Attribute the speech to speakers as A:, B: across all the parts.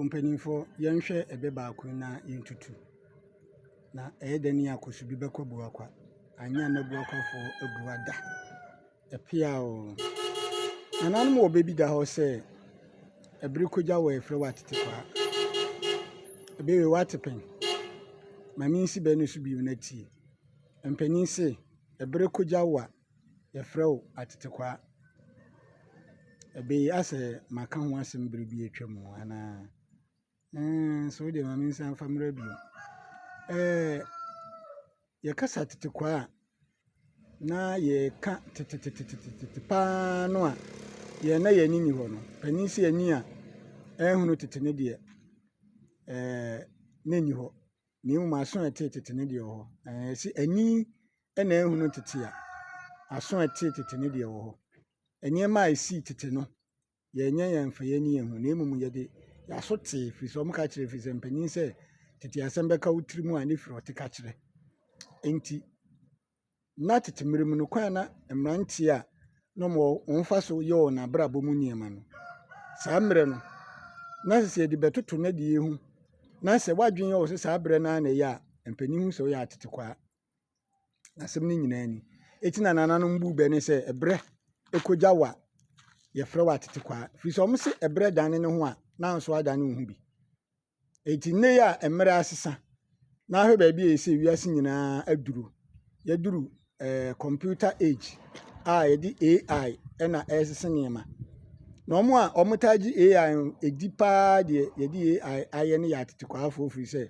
A: Mpanimfoɔ, yɛnhwɛ ɛbɛ baako yi na yɛntutu. Na ɛyɛ dɛn yi a Kosubi bɛkɔ Abuakwa, anyɛ a na Abuakwafoɔ abu ada. Ɛpea oo. Nananom wɔ bɛ bi da hɔ sɛ, ɛbere kogya wɔ ɛfrɛ wɔ atetekwaa. Ɛbɛ wei wɔ atepɛn. Ma mensi bɛ no so bio na tie. Mpanin se, ɛbere kogya wɔ a. Yɛfrɛ wo atetekwaa. Ɛbee asɛ maka ho asɛm bere bi a atwam anaa? Ɛɛn, so wo deɛ ma mensan mfa mmra bio. Ɛɛn, yɛka sɛ atetekwaa a, na yɛka tetetetete pa ara no a yɛn na yɛn ani nni hɔ no. Panin se ani a ɛnhunu tete no deɛ, ɛɛn, na ɛnni hɔ, na mmom aso a ɛtee tete no deɛ ɛwɔ hɔ. Ɛɛn, ɛse ani na ahunu tete a, aso a ɛte tete ne deɛ ɛwɔ hɔ. Nneɛma a ɛsii tete no, yɛnyɛ yɛn mfɛyɛ ne yɛn ho na mmom yɛde yɛaso tee ɛfiri sɛ wɔka kyerɛ ɛfiri sɛ mpanin sɛ tete asɛm bɛka wo tiri mu a ne firi ɔte ka kyerɛ. Enti na tete mmerɛ mu no kwan na mmeranteɛ a na wɔn fa so yɛ wɔn abrabɔ mu nneɛma no saa mmerɛ no na sɛ yɛde bɛtoto no deɛ ho na sɛ wadwene yɛ wɔ sɛ saa berɛ no ara na ɛyɛ a mpanin hu sɛ woyɛ atetekwaa Asɛm no nyinaa ni. Eti na nananom bu bɛ ne sɛ ɛbrɛ kogya wo a, yɛfrɛ wo atetekwaa. Ɛfiri sɛ wɔse ɛbrɛ dane ne ho a, na nso adane wo ho bi. Eti nnɛ yi a mmerɛ asesa na ahwɛ baabi a ɛsɛ wiase nyinaa aduru. Yɛaduru eh, computer age a yɛde AI na ɛresese nneɛma. Na wɔn a wɔtaa gye AI no, ɛdi paa deɛ yɛde AI ayɛ ne yɛ atetekwaafoɔ firi sɛ,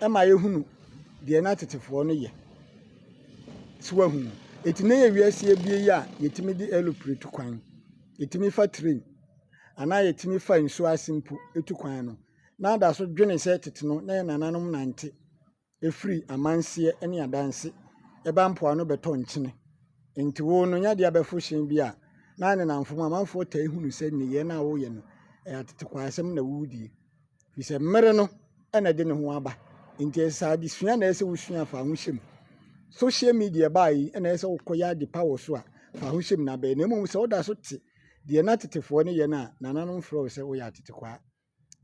A: ɛma yɛhunu deɛ na tetefoɔ no yɛ. So wahu? Eti na yɛ wiase abie yi a yɛtumi de aeroplane tu kwan, yɛtumi fa train, anaa yɛtumi fa nsuo ase mpo tu kwan no, na ada so dwene sɛ tete no na yɛn nananom nante firi amanseɛ ne adanse ɛba mpoano bɛtɔ nkyene. Nti wo no nya de abɛfo hyɛn bi a, na ne namfo mu amanfoɔ taa hunu sɛ nneyɛɛ no a woyɛ no, ɛyɛ atetekwaa asɛm na woredie. Ɛfiri sɛ mmere no na ɛde ne ho aba. Enti ɛsɛ sɛ adesua na ɛsɛ sɛ wosua fa ho hyɛ mu. Social media ɛbaeɛ yi na ɛsɛ sɛ wokɔyɛ ade pa wɔ so a, fa ho hyɛ mu na bɛyɛ. Na mmom sɛ woda so te deɛ na tetefoɔ no yɛ no a, nananom frɛ wo sɛ woyɛ atetekwaa.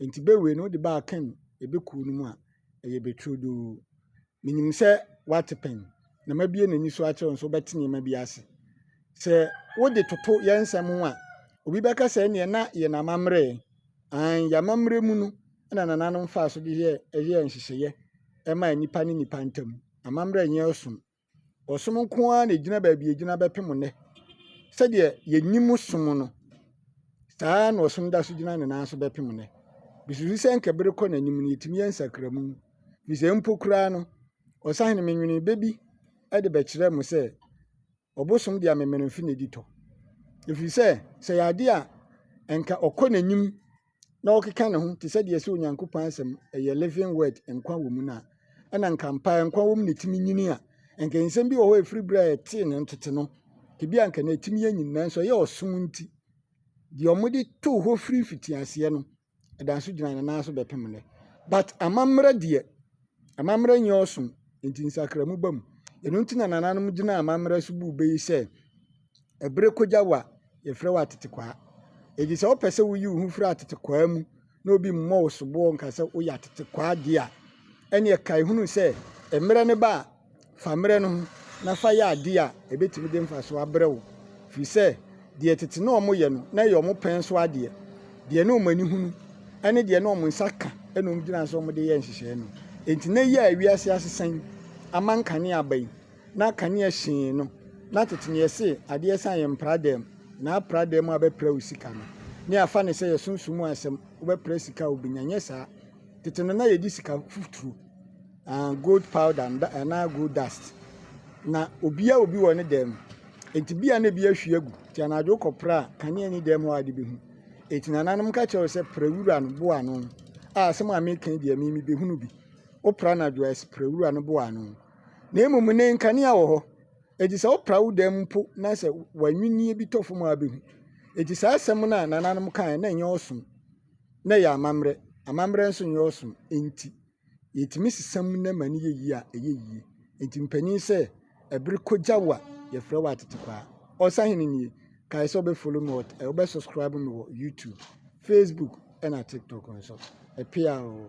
A: Enti bɛ wei no wode bɛ akɛn ɛbɛ kuo no mu a, ɛyɛ bɛ turodoo. Menim sɛ woate pɛn, na mabue m'ani so akyerɛ wo nso wobɛte nneɛma bi ase. Sɛ wode toto yɛn nsɛm ho a, obi bɛka sɛ ɛnneɛ na yɛn amammerɛ ɛ. Aane, yɛn amammerɛ mu no na nananom faa so de yɛɛ nhyehyɛeɛ maa nnipa ne nnipa ntam. Amammerɛ nyɛ ɔsom. Ɔsom nko ara na ɛgyina baabi a ɛgyina bɛpem nnɛ. Sɛdeɛ yɛnim som no, saa ara na ɔsom da so gyina ne nan so bɛpem nnɛ. Mesusu sɛ anka bere kɔ n'anim no, yɛtumi yɛ nsakramu Ɛfiri sɛ, mpo koraa no, ɔsahene, menwenee bɛ bi de bɛkyerɛɛ mo sɛ, ɔbosom de amemenemfe na edi tɔ. Ɛfiri sɛ, sɛ ɛyɛ adeɛ a ɛnka ɔkɔ n'anim na ɔkeka ne ho te sɛ deɛ sɛ Onyankopɔn asɛm ɛyɛ living word, nkwa wɔ mu no a, ɛna nka mpa nkwa wɔ mu na ɛtumi nyini a, nka nsɛm bi wɔ hɔ a ɛfiri berɛ a ɛtee no ntote no, tebea nka na ɛtumi anyin, nanso ɛyɛ ɔsom nti, deɛ wɔde too hɔ firi mfitiaseɛ no, ɛda nso gyina ne nan so bɛpem nnɛ. But amammerɛ deɛ, amammerɛ nyɛ ɔsom, nti nsakramu ba mu. Ɛno nti na nananom gyina amammerɛ so buu bɛ yi sɛ, ɛbere kogya wa, yɛfrɛ wo atetekwaa. Enti sɛ wopɛ sɛ woyi wo ho firi atetekwaa mu na obi mmɔ wo soboɔ nka sɛ woyɛ atetekwaa deɛ a, ɛneɛ kae hunu sɛ mmerɛ no ba a, Fa mmerɛ no ho na fa yɛ adeɛ a ɛbɛtumi de mfasoɔ abrɛ wo, firi sɛ deɛ tete na wɔyɛ no na ɛyɛ wɔn pɛn so adeɛ, deɛ na wɔn ani hunu ne deɛ na wɔn nsa ka na wɔn gyina so wɔde yɛ nhyehyɛeɛ no. Enti na yi a ewiase asesa yi ama nkanea aba yi, na kanea hyee no, na tete na yɛse adeɛ san yɛ mpra dɛm, na apra dɛm a bɛpra wo sika no. Ne afa ne sɛ yɛ sunsum mu asɛm, wobɛpra sika a wobɛnya, nyɛ saa. Tete no na yɛde sika futuro. gold powder anaa gold dust. Na obiara wɔ bi wɔ ne dan mu. Enti ebia na ebi ahwie agu. Enti anadwo wokɔpra a, kanea nni dan mu a wode bɛhu. Enti nananom ka kyerɛ wo sɛ pra wura no bo ano a asɛm a mereka yi deɛ me mebɛhunu bi. Wopra anadwo a, pra wura no bo ano. Na mmom nnɛ nkanea wɔ hɔ. Enti sɛ wopra wo dan mu mpo na sɛ w'anwinnie bi tɔ fam a wobɛhu. Enti saa asɛm no a nananom kae na ɛnyɛ ɔsom. na ɛyɛ amammerɛ, amammerɛ nso nyɛ ɔsom nti, yɛtumi sesa mu na ma no yɛ yie a, ɛyɛ yie. Nti mpanin sɛ, ɛbere kɔgya wo a, yɛfrɛ wo atetekwaa. Ɔsahene nie, kae sɛ wobɛfollow me, wobɛsubscribe me wɔ YouTube, Facebook ɛna TikTok nso. Ɛpea oo.